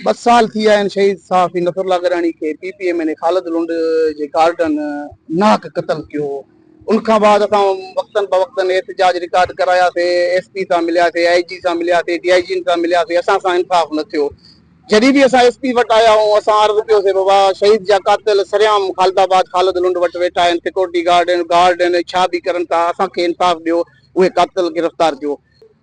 ٻه سال ٿي ويا آهن شهيد صحافي نصر الله گڏاڻي کي P P M N A Khalid Lund جي گارڊن ناحق قتل ڪيو هو ان کان بعد اسان وقتن بوقتن احتجاج رڪارڊ ڪراياسي ايس پي سان ملياسي آء جي سان ملياسي ڊي آء جين سان ملياسي اسان سان انصاف نه ٿيو جڏهن به اسان ايس پي وٽ آيا آهيون اسان عرض ڪيوسي بابا شهيد جا قاتل سريام خالد آباد خالد لنڊ وٽ ويٺا آهن سيڪورٽي گارڊ آهن گارڊ آهن ڇا به ڪرن ٿا اسان کي انصاف ڏيو اهي قاتل گرفتار ڪيو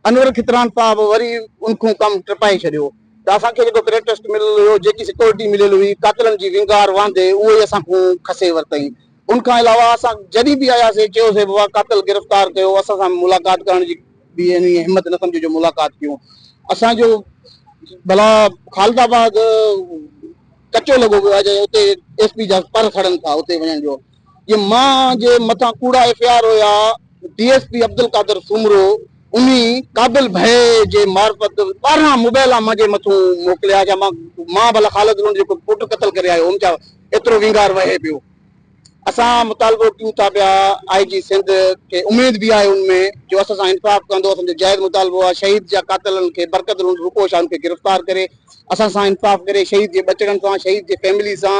انور کتران صاحب وري ان کون ڪم ٽپائي ڇڏيو ته اسان کي جيڪو پريٽسٽ مليل هيو، جيڪي سيڪيورٽي مليل هئي، قاتلن جي وينگار واندي اهو ئي اسان کون کسي ورتائين. ان کان علاوه اسان جڏهن به آياسي چيوسي بابا قاتل گرفتار ڪيو، اسان سان ملاقات ڪرڻ جي به يعني همت نه سمجهي جو ملاقات ڪيون. اسان جو ڀلا خالد آباد ڪچو لڳو پيو آهي جي اتي ايس پي جا پر سڙن ٿا اتي وڃڻ جو. جي مان جي مٿان ڪوڙا ايف اي آر هيا D S P Abdul Qadir Soomro انهي قابل ڀئي جي معرفت ٻارهن موبائيلا مانجي مٿون موڪليا جا مان مان ڀلا خالد لونڊ جيڪو پٽ قتل ڪري آيو هوم جا ايترو وينگار وهي پيو اسان مطالبو ڪيون ٿا پيا آئي جي سنڌ کي اميد به آهي ان ۾ جو اسان سان انصاف ڪندو اسان جو جائز مطالبو آهي شهيد جا قاتلن کي برڪت لونڊ روپو شاهن کي گرفتار ڪري اسان سان انصاف ڪري شهيد جي ٻچڙن سان شهيد جي فيملي سان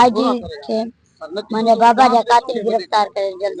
آء جي کي منهنجا بابا جا قاتل گرفتار ڪري جلد